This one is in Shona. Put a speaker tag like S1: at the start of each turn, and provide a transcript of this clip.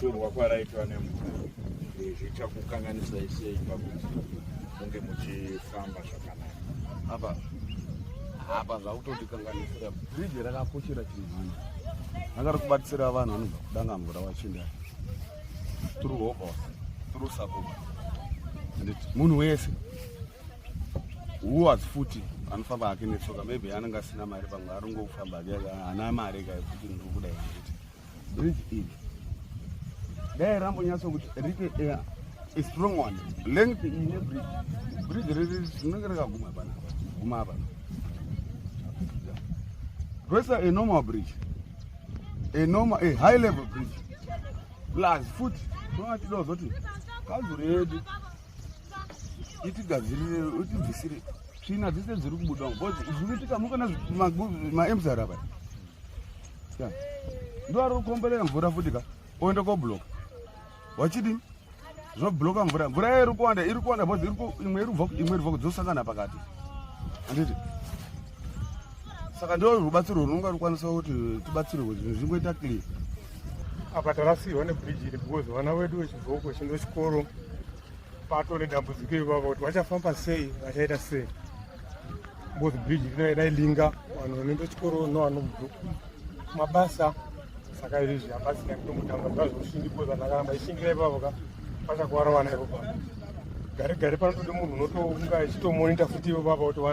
S1: kutorwa
S2: kwaraitwa nemvura zvichakukanganisai sei pakuti munge muchifamba zvaka apa
S1: apa zvakutotikanganisira bridge rakakoshera chinhu vanhu vanga rikubatisira vanhu vanobva kudanga mvura vachinda through hobos through support and munhu wese huwas futi anofamba hake netsoka maybe anenge asina mari pamwe arongokufamba hake ana mari kaekuti ndiri kuda iiti bridge iri dai rambonyatso kuti rite eh, a strong one length ine bridge bridge riri rinenge rakaguma pana guma apa rwesa a normal bridge a normal a high level bridge plus futi toatidawo zoti kanzuro yedu itigadzirire itibvisire tsvina dzese dziri kubuda bcause zvikuitika mukana maemsarapa ndowari kukombelela mvura futi ka oenda kobloka wachidini zvobloka mvura mvura yayo iri kuwanda iri kuwanda bcause imwe iri bva kudzosangana pakati anditi saka ndo rubatsiro runonga rukwanisa kuti tibatsirwe zvinhu zvingoita clear apa
S3: tarasirwa nebridge iri because vana vedu vechidoko chindo chikoro pato nedambudziko ivava kuti vachafamba sei vachaita sei both bridge railinga vanhu vanoenda chikoro novanobva kumabasa saka izvi hapasina kutomutamba zvazvoshingi koza ndakaramba ishingira ipapo ka pachakuwara vana ipo pano gare gare panotode munhu unotounga achitomonita futi ipo papa kuti